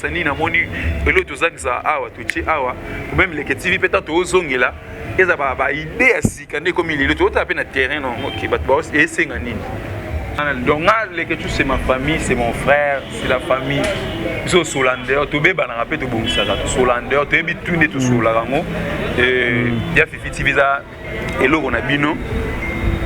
Sani na moni elo tozangisa awa totie awa meme leke tv mpe ntango tozongela eza baide ya sika nde ekomi lelo tozotala mpe na terrain noke bato bao esenga nini donc nga leke tu c'est ma famille c'est mon frère c'est la famille biso solander tobebanaka mpe tobongisaka tosolander toyebi tu nde tosololaka yango ya fifi tv eza eloko na bino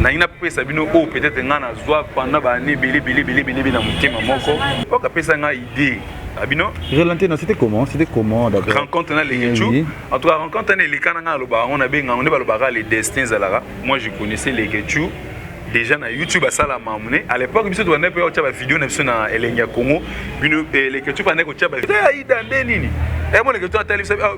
nalingi napesa bino oyo oh, peut-être ngai nazwa pendant baane ebele ebele ebele ebele ebele na motema moko oka apesa ngai idée na bino relante na c'était comment c'était comment d'abord rencontre na lekechu eh en tout cas rencontre wana eleka na ngai alobaka yango nabenga yango nde balobaka le destin ezalaka moi je connaissais lekechu déjà na youtube asala mamune à l'époque biso tobandaki mpe otya bavideo na biso na elengi ya congo bino eh, lekechu bandaki kotya baida nde nini emoneke eh, to atali biso ah,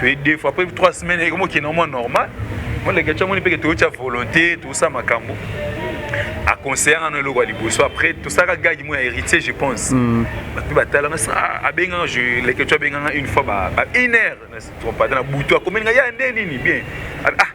toye deux fois après trois semaines ekomi okende mwa normal moleke tya moni mpeke toyotya volonté tosa makambo aconseille ngano eloko ya liboso après tosalaka gage moi ya héritier je pense hmm. bato mpe batalanga ah, abenganga leketio abenganga une fois ba une heure na trompata na butu akomeli nga ya nde nini bien ah, ah.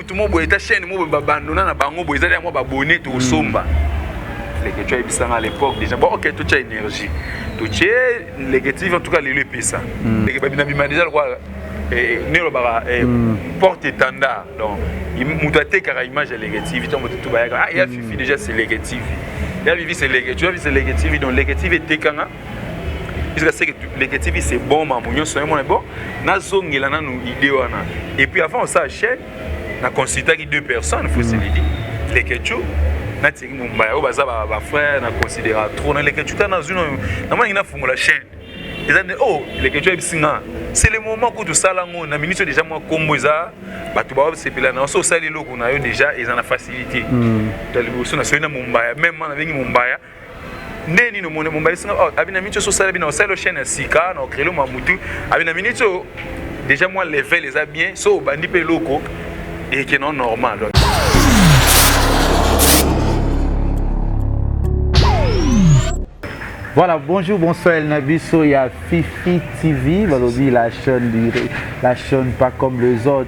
mutu mo boye ta chaîne mo ba bandona na bango boye ezali yango ba bonne to somba hmm. leke tu ayebisa nga à l'époque déjà bon ok to tia énergie to tie leke TV en tout cas lelo epesa hmm. leke ba bina bima déjà quoi eh, ne lobaka eh, hmm. porte étendard donc mutu atekaka image ya leke TV to moto to bayaka ah ya fifi déjà c'est leke TV ya vivi c'est leke tu ya vivi c'est leke TV donc leke TV etekanga jusqu'à ce que Leke TV c'est bon mamu nyonso yango bon nazongela nanu idée wana et puis avant ça chaîne na consultaki deux personnes faut se le dire Leke Tchou na Thierry Mumbaya oyo baza ba, ba frère na considéra trop na Leke Tchou ta na zuno na mwana ngina fungola chaîne eza nde oh Leke Tchou ebisi nga c'est le moment kutu osala yango na minute déjà mwa kombo eza bato baosepela na oso osali eloko na yo déjà eza na facilité hmm. taliboso na soki na mombaya meme na bengi mombaya nde nini omoni mobalisi nga oh, abi na miniti oso osala bino osali chaîne ya sika na okrele mwa mutu abi na miniti oyo déjà mwa level eza bien so obandi mpe eloko ekeno normal Voilà, bonjour, bonsoir El Nabiso, il y a Fifi TV, Balobi, la chaîne, la chaîne pas comme les autres,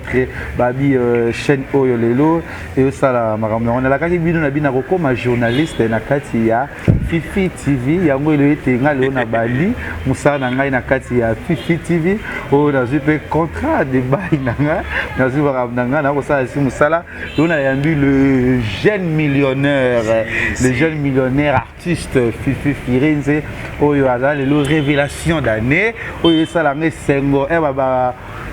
Babi, euh, chaîne Oyo Lelo. eyosala makambo yango nalakaki bino na bino akokoma journaliste na kati ya fifi tv yango elo ete nga lelo na bandi mosala na ngai na kati ya fifi tv oyo nazwi mpe contrat de bail na nga nazwi makambo na ngai nakosala esi mosala lelo nayambi le jeune millionnaire le jeune millionnaire artiste Fifi Firenze oyo aza lelo révélation d'année oyo esala nga esengo eh,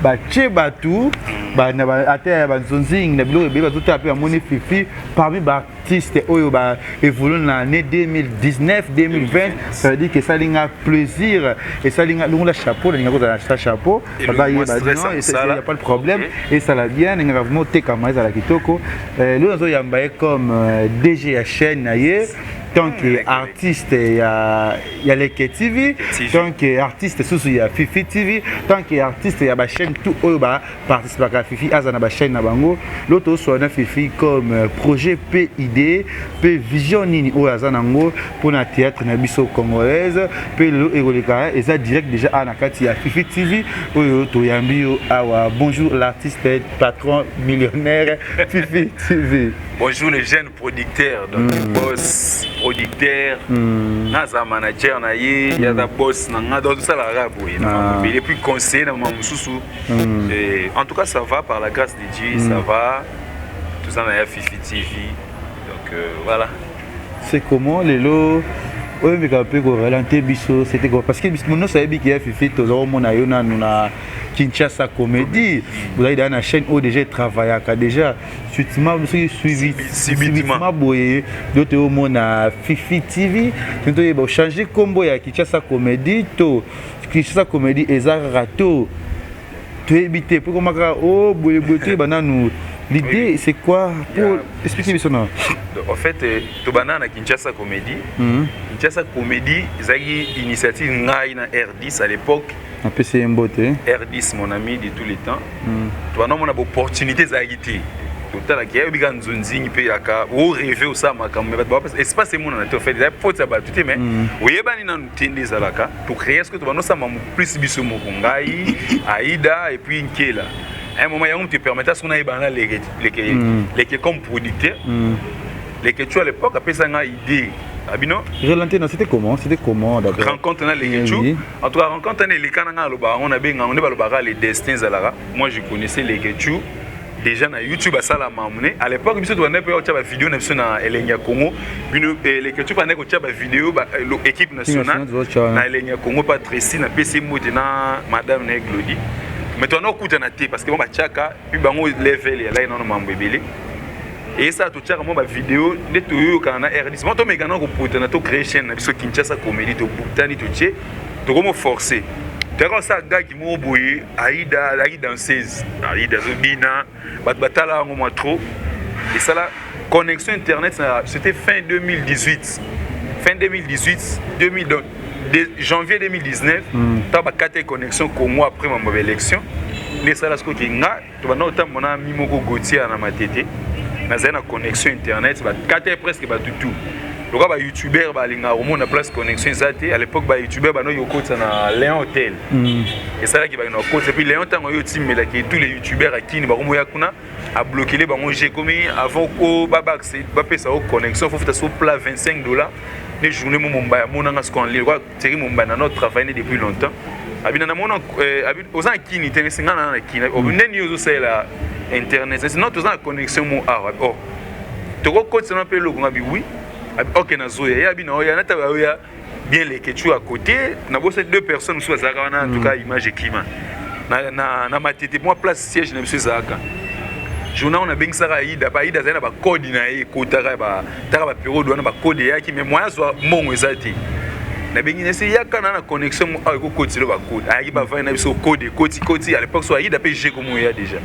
batie bato ata ya banzonzingi na biloko ebele bazotala mpe bamoni Fifi parmi baartiste oyo ba évolue na année 2019 2020 ça veut dire que esali nga plaisir esali nga longola chapeau nalinga kozala na chapeau ya pas de problème esala bien ndenge kaka vraimen otekama ezala kitoko eh, lelo nazoyamba ye comme euh, dg ya chaîne na ye tant que artiste ya, ya leke tv tant que artiste susu ya fifi tv tant que artiste ya bachaîne tout oyo baparticipaka ya fifi aza na bachaîne na bango lo toswana fifi comme euh, projet mpe idée mpe vision nini oyo aza nango mpo na théâtre na biso congolaise mpe lelo ekoleka eza direct déjà awa na kati ya fifi tv oyo toyambi yo awa bonjour l'artiste patron millionnaire fifi tv bonjour les jeunes producteurs donc mm. boss producteur mm. naza manager na ye mm. yaza boss na nga donc tosala kaka boye na mabele ah. puis conseiller na mama mosusu mm. eh, en tout cas ça va par la grâce de dieu mm. ça va toza na ya fifi tv donc euh, voilà C'est comment lelo oyo meka pe ko ralentir biso c'était quoi parce que biso mono ça yebi que fifi to zo mona yo na na Kinshasa comédie vous avez dans la chaîne où déjà travaillé déjà subitement biso suivi subitement boye dote au mona fifi TV nto yeba changer combo ya Kinshasa comédie to Kinshasa comédie eza rato toyebi te mpo ekoma kaka o oh, boye boye toyeba nanu l'idée c'est quoi pour expliquer biso na en fait euh, tobanda na kinshasa comédie mhm. kinshasa comédie ezalaki initiative ngai na r10 à l'époque apesi ye mbote r10 mon ami de tous les temps mhm. tobanda omona baopportunité ezalaki te totalaki ayebi kaka nzonzingi mpe yaka oreve osala makambo me bato espace emonana te ofet eza faute ya bato te mais mhm. oyebani nanu te nde ezalaka tocrea soki tobanda osamba plus biso moko ngai aida epuis nkela un moment yango moto epermeta soki nayebana na leke leke mm. leke comme producteur mm. leke tu à l'époque apesa ngai idée abino relante na c'était comment c'était comment d'abord rencontre na leke tu en tout cas rencontre na elekana ngai alobaka yango nabenga yango nde balobaka le destin ezalaka moi je connaissais leke tu deja na youtube asala mamune à l'époque biso tobandaki mpe kotya bavideo na biso na elengi ya congo bino eh, leketio bandaki kotya bavideo eh, équipe nationale na elengi ya congo mpe tracy napesi mbote na madame na ye glodi mais toanda kokutana te parce que bango batyaka mpe bango level yalaki nano mambo ebele eyesala totyaka mwa bavideo nde toyoyokana na rdc mwa tomekana koputana to créer chaîne na biso kinshasa comédie tobutani totye tokomo force toyaka osala gagi moko boye aida alaki danseuse aida azobina bato batala yango mwa trop esala connexion internet na c'était fin 2018 fin 2018 2000, donc, de, janvier 2019 ntango mm. bakataki connexion congo après mambo ya baélection nde esala soki nga tobanda kotambola na ami moko gautier na matete nazali na connexion internet bakata ye presque bato tout loka ba youtubeur balingaka komona place connexion eza te à l'époque ba youtubeur banoki kokotisa na leon hotel mm. esalaki bakenda kokotisa puis leon ntango yo otimelaki tous les youtubeur akini bakomoya kuna ablokele bango je komi avant o babapesa o connexion fofuta so plat 25 dollars ne journée mo mombaya amonanga siko en ligne Thierry Mombana no travaille ne depuis longtemps. Abina na mona euh, abi oza na kini te mais singa na kini. Obi mm. neni ozo sala internet. C'est not oza na connexion mo awa. Oh. Toko kotisa na pe loko ngabi oui. Abi okay na zoya. Ya abi na oya na taba oya bien les ketchou à côté. Na bo ces deux personnes sous azaka wana en tout cas mm. image ekima. Na na na matete moi place siège na monsieur Zaka. journal na bengisaka aida pa aida azali na bacode na ye ekotaka taka ba periode wana ba code eyaki mais moyen azwa mbongo eza te nabengi nese yaka na na connexion mo awa ekokotisa elo bakode ayaki bavani na biso kode ekoti koti à l'époque so ayida mpe je komo eya déjà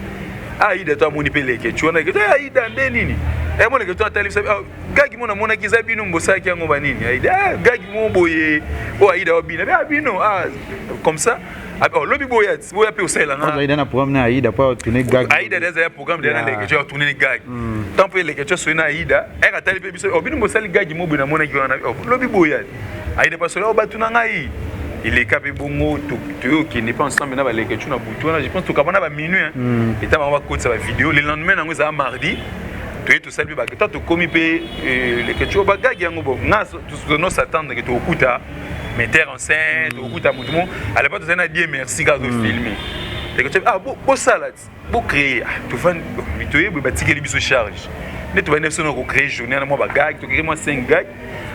ayida to amoni mpe leke ti wana leke ayida nde nini emona leke to atali biso ah, gagi mo namonaki eza bino mobosalaki yango banini ayida ah, gagi mo boye oyo ayida wabina mpe abino ah, comme ça Aba lobi boya boya pe osala na. Aida na programme na Aida pa tourner gag. Aida des ya programme de na leke tu tourner gag. Hmm. Tant pe leke tu soina Aida, elle a tali pe biso obino oh, mosali gag mo bina mona ki wana. Oh, lobi boya. Aida pa sola obatu oh, na ngai. eleka mpe bongo toyokende mpe ensemble na baleke tu na butu wana je pense tokabana ba minuit etama bakotisa bavideo le lendemain na yango ezala mardi tosali mpe baketa tokomi mpe eh, leketio bagagi yango bo nga tozono s'attendre ke tokokuta metteur en scène tokokuta motu mo alapa tozali na die merci kaka tofilme mm. leketio ah bosala ti bocreye ah, tofandi toyebi batikeli biso charge nde tobandi biso na kocreye journée wana mwa bagagi tokeke mwa 5 gag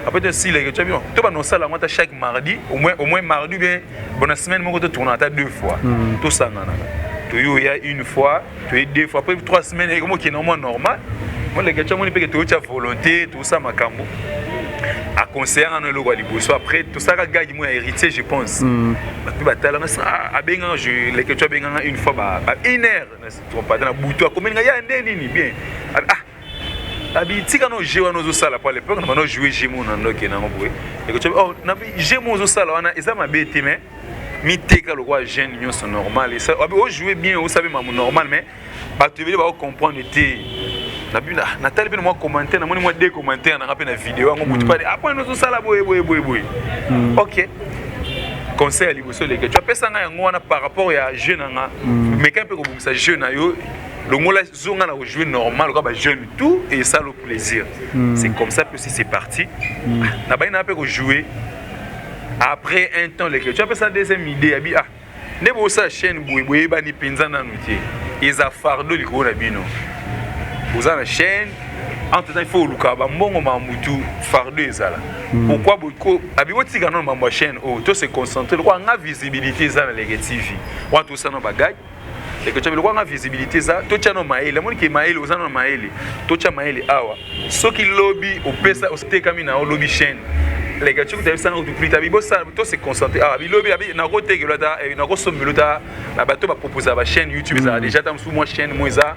après tosila leketio biso to banda kosala yango ata chaque mardi au moins au moins mardi bien bona semaine moko totournaka ata deux fois mm. tosanganaka toyoya une fois toye deux fois après trois semaines ekomi okende mwa normal moleke tya moni mpeke toyotya volonté tosa makambo aconseille ngano eloko ya liboso après tosalaka gage moi ya héritier je pense hmm. bato mpe batalanga ah, abenganga leke tyo abenganga une fois ba une heure natrompata na butu akomeli nga ya nde nini bien ah, abi tika no jeu wana ozosala po alepoke na bana ojoue jeu mo na ndoke nango boye leke tyo oh, na jeu mo ozosala wana eza mabe te mais miteka lokola jeune nyonso normal ojoue bien osabe mamu normal mais bato ebele baocomprendre te natali mpena mwa commentaire namoni mwa de commentaire nanga mpe na video yango motu pale apona hmm. ah, nozosala boye boye boye boye hmm. ok conseil ya liboso eleke tu apesa ngai yango wana par rapport ya jeu na nga hmm. meka mpe kobongisa jeu na yo longola zonga na kojoue normal oka bajeune tout esala plaisir c'est comme ça mpe si c'est parti nabai na mpe kojoue après un temps leke tu apesa deuxième idée ya bi ah nde bosa chaîne boye boyebani mpenza nanu te eza fardo likolo na bino boza na chaîne entre temps il faut oluka bambongo ma mutu fardo ezala hmm. pourquoi boko abi botika nano mambo ya chaîne oyo oh, to se concentrer lokola nga visibilité eza na leke tv wana tosala na bagage ekotia biloko anga visibilité eza totia no mayele amoni ke mayele oza no mayele totia mayele awa soki lobi opesa otekami na yo lobi chaîne leka tioki tabi sanga kutu plita bibosala to se concentrer awa bilobi abi na ko tekelo ta eh, na ko sombelo ta na bato ba proposer ba chaîne YouTube za mm. déjà ta musu mwa chaîne mo eza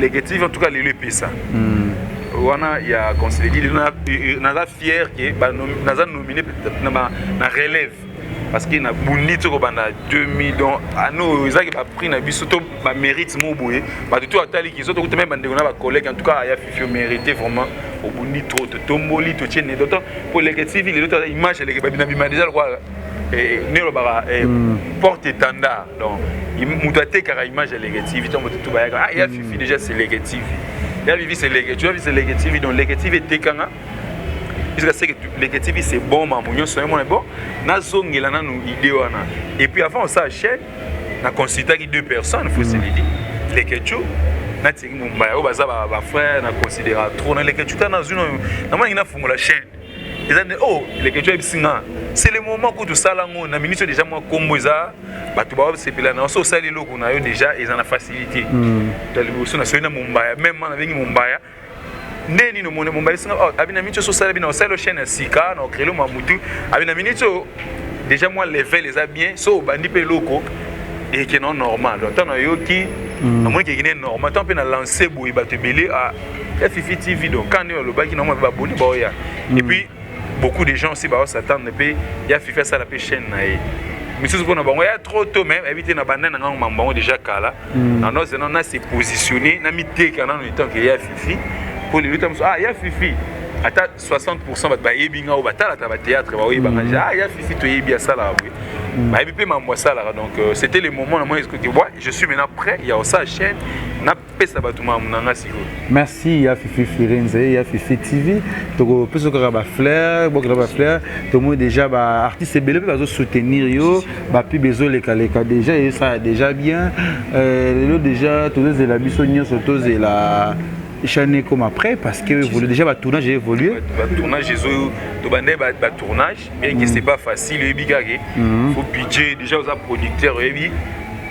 Leke TV en tout cas lelo epesa. Mm. wana ya conseiller dili naza fier ke naza nomine na relève parce que nabundi ti kobanda 2000 donc ane oyo ezalaki baprix na biso to bamérite moko boye bato to atali kiso tokuta meme bandeko na bacollègue en tout cas aya fifi omérite vraiment obundi trop totomboli totie nedoto mpo eleke tv lelo image eleke babina bima deja lokola Eh, eh, nelobaka eh, hmm. porte étendard donc moto atekaka image ya leke tv ntango moto tu bayaka ah ya fifi hmm. déjà c'est leke tv ya vivi c'est leke tu ya vivi c'est leke tv donc leke tv etekanga puisque seke leke tv c'est bon mambo nyonso yamona bon nazongela nanu idée wana et puis avant osala chaîne na consultaki deux personnes faut se hmm. le dire leke tio natiki mombaya oyo baza bafrère na considéra trop na leke tio ta nazwi namonaki nafungola chaîne eza nde o oh, leketio ayebisi nga c'est le moment kutu osala yango na minute déjà mwa nkombo eza bato basepela na oso osali eloko na yo déjà eza na facilité hmm. ta liboso nasoki na mombaya meme ma nabengi mombaya nde nini omoni mombaya esinga oh, abi na minute oso osala bina osali ochaine ya sika na okrele mwa motu abi na minute oyo déjà mwa level eza bien so obandi mpe eloko ekende normal ntango nayoki hmm. namoni kekende normal ntango mpe na lance boye bato ebele ah, ya fifi tv donc quand nde olobaki nango mabe baboni baoya mm. et puis beaucoup de gens aussi bao s'attendre mpe ya fifi asala mpe chaîne na ye misusu mpona bango ya trop tôt mais ayebi te na banda na ngango mambo bango déjà kala mm. na noze nano na se positionner na miteka nano etant ke ya fifi mpo lelo tamosu ah ya fifi ata 60 pourcent bato bayebi nga oyo batalaka batéâtre baoyebanga mm. ja ah ya fifi toyebi asalaka boye Mm. bayebi mpe mambo asalaka donc euh, c'était le moment na moi eskoki bwa je suis maintenant prêt ya kosala chaîne na pesa bato mamu na nga sikoyo merci ya fifi firenze ya fifi tv tokopesa kaka bafleur bokela bafleur tomoni déjà baartiste ebele mpe bazosoutenir yo bapub ezolekaleka déjà esala déjà bien euh, lelo déjà tozozela biso nyonso tozela chaîne ekoma après parce que évolue déjà batournage evolue batournage ezo tobandai batournage bien que c'est pas facile oyebi kaka ke mhm. faut budget déjà oza producteur oyebi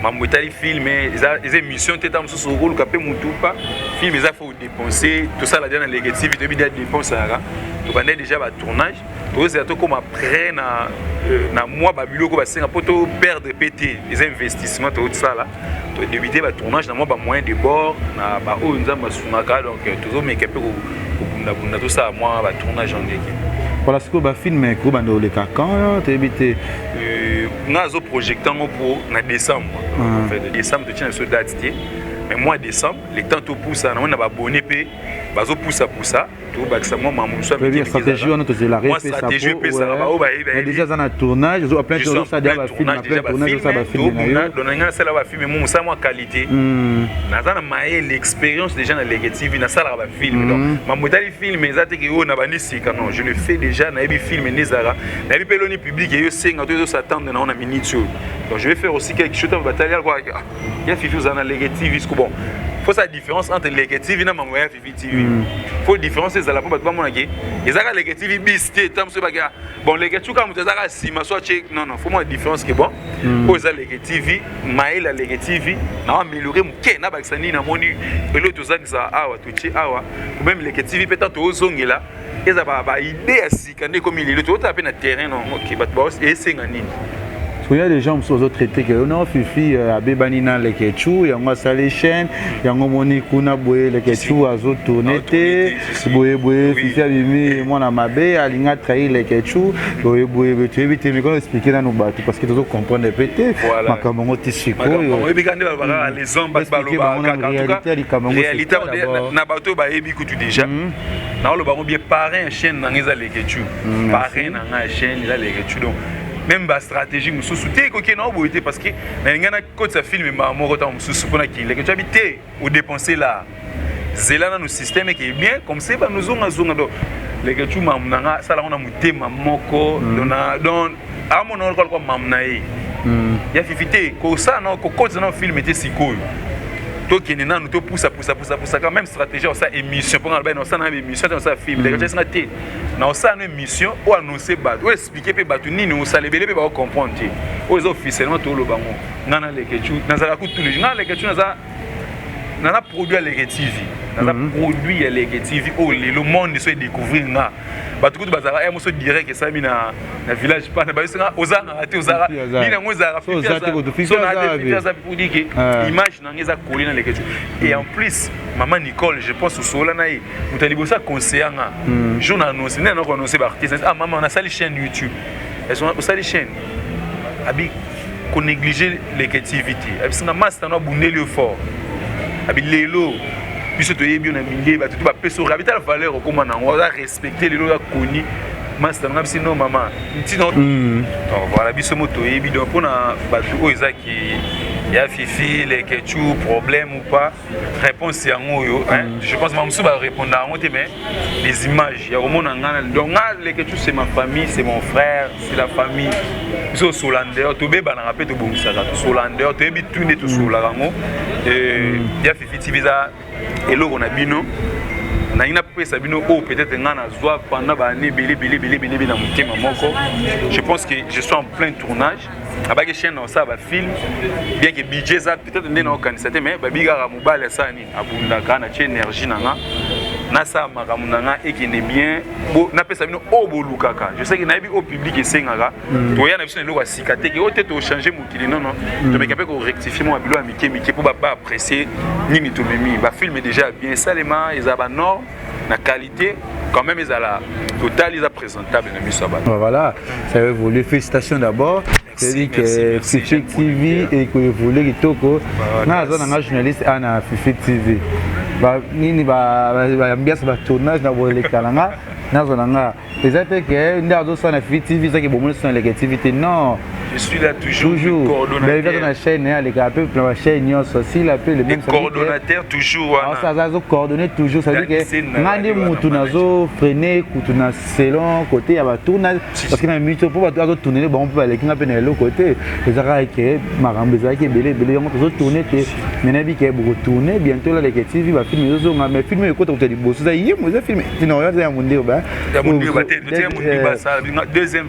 mambo etali film eza émission te ntango mosusu okoluka mpe motu pa film eza faut dépense tosala dia na legative toyebi dia dépense ayaka tobanda déjà batournage tokozela tokóma près na euh, na mwa babiloko basenga mpo toperdre mpe te eza investissement tokosala to débiter ba tournage na mwa ba moyens de bord na ba oyo nzambe asungaka donc euh, tozomeka mpe kobundabunda tosala mwa ba tournage en ndenge voilà sikoyo bafilme ekobanda koleka quand toyebi te euh, nga azo projecte yango mpo na décembre ah. décembre totyana biso date te mais mois décembre le temps topusa namoni na babone mpe bazopusapusa tobakisa mwa makambo mosusu ya mike stratégie wana tozela repesaadeja aza na tournage ozoba plein tournageoza bafilme na yo dona ngai nasala bafilme mo mosala mwa qualité hmm. naza na mayele expérience déjà na lege tv nasalaka bafilme donc hmm. mambo etali filme eza te ke oyo nabandi sika non je le fais déjà nayebi filme nde ezalaka nayebi mpe eloni publike eyo esenga to ezosatande na yo na minute oyo donc je vais faire aussi quelque chose batali alkoya ah, fifi oza na lege tv siko bon faut sa différence entre lege tv na mambo ya TV TV. Mm. Faut différence ezala po bato bamona ke ezaka leke TV bis te tam so baka bon leke chuka moto ezaka sima so che non non faut moi différence ke bon mm. oza leke TV maela leke TV na améliorer moke na bakisa nini na moni elo tozangisa awa toche awa ou même leke TV peut-être ozongela eza ba ba idée kanda ekomi lelo totala mpe na terrain na yango ke bato baos esenga nini soya les gens mosusu bazotraite ke no fifi euh, abebani na lekechou yango asali chaîne yango omoni kuna boye lekechou azotourne te boye boye fifi abimi mwana mabe alingi atrahi lekechou boye boye boye toyebi te mikono explike nanu bato parce que tozo comprendre mpe te makambo yango ti sikoyoyebikande balobaka les hommes bato balobaka kaka en tout cas réalité na bato oyo bayebi kutu déjà hmm. na oloba ngo bien parrain ya chaîne nanga eza leketchu mm, parrain nanga ya chaîne eza leketchu donc même ba stratégie mosusu te ekoki na oboye te parce que nalinga nakotisa film mbaa moko ntango mosusu mpo na kileketchu abi te odepense la zela nanu système eke bien comme se banozongazonga donc leketchu mamu nanga asala ngo na motema moko mm. donc amona wana lokola mamu na ye hmm. ya fifi te kosala na kokotisa na filme te sikoyo tokende nanu topusapusapusapusaka même stratégie osala émission mpo nalobai na osala na émission te osala film lekocasinga hmm. te na osala na émission oyo annonce bato oyo explike mpe bato nini osala ebele mpe baocomprendre te oyo eza officiellement toloba ngo ngai nalekecu nazalaka kutu leju ngai nalekecu naza nana produit ya leke tv naza mm -hmm. produit ya leke tv oyo oh, lelo monde so edécouvrir nga bato kutu bazalaka ya eh, moso direct esalami na, na village pana bayosanga ozangaka te ozalaka nini yango ezalaka fitiazapudike ah. image na yango eza koli na leke et en plus mama nicole je pense osola na ye moto ya liboso aconseya nga hmm. jour na annonce nde nanako annonce baartiste ah mama nasali chaîne youtube osali chaîne abi ko négliger leke tv te abisi nga masta no abundeli yo fort abi lelo biso toyebi yo na milieu bato te bapesa oyo abi tala valeur okoma na yango aza respecte lelo oza koni masta nga bisi no mama ntina hmm. donc voilà biso mo toyebi donc mpona bato oyo eza ki ya fifi leke chu problème ou pas réponse yango oyo je pense bamosusu bareponda yango te mais les images ya komona ngai donc nga leke tu c'est ma famille c'est mon frère c'est la famille biso osola ndeyeur tobebanaka mpe tobongisaka tosola ndeyeur toyebi tu nde tosolaka yango ya fifi tv eza eloko na bino nalingi napesa bino oyo oh, peut-être ngai nazwa pendant baannée ebele ebele ebele ebele na motema moko je pense que je suis en plein tournage abaki chaîne na osala bafilm bien ke budget eza peut-être nde na okanisa te mais babi kaka mobali asala nini abundaka na tie énergie na nga nasala makambo na nga ekende bien napesa bino oyo bolukaka je sais ke nayebi oyo public esengaka mm. toya na biso na eloko ya sika te ke oyo te tochange mokili nono mm. tomeka mpe korectifie mwa bilo ya mike mike mpo baba apprécie nini tomemi bafilme déjà bien esalema eza banorme na qualité te quand même ezala total eza présentable na miso ya bato voilà ça a évolué félicitations d'abord c'est-à-dire que Fifi TV ekoevolue kitoko nga aza na nga journaliste a na Fifi TV nini baambiance batournage na boleka na nga nazwa na nga eza te ke nde azosala na Fifi TV ezaki bomoni so na leke TV te non Je suis là toujours. Toujours. Coordonnateur. Dans la chaîne, hein, les gars, peu dans la chaîne, ils sont si la peu les mêmes. Coordonnateur toujours. Alors ça, ça, coordonné toujours. Ça veut dire que ngandi mutu nazo freiner kutu na selon côté ya ba tourna parce que na mutu pour ba to tourner ba on peut aller kinga pe na l'autre côté. Les arabes que marambe za ke belé belé on peut tourner que nena bi ke beaucoup tourner bientôt là les TV ba film zo nga mais film ko to to di bosso za yimo za film. Sinon ya ya mundiba. Ya mundiba te, ya mundiba ça. Deuxième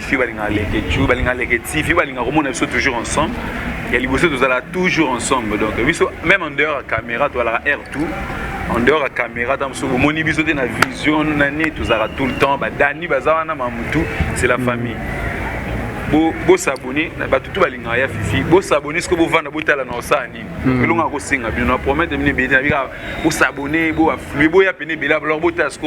fi balingaka leke ju balingaka leke ti fi balingaka komona biso toujours ensemble ya liboso tozala toujours ensemble donc biso même en dehors ya caméra tozalaka air tout en dehors ya caméra ta mosusu omoni biso te na vision nani tozalaka tout le temps badani baza wana mamutu c'est la famille bosabone na bato tu balingaka ya fifi bosabone soki bovanda botala na osala nini hmm. elonga kosenga bino na promete bino ebele na bika bosabone boaflue boya pene ebele alors botala soki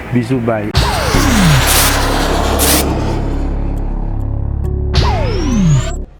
bisous bye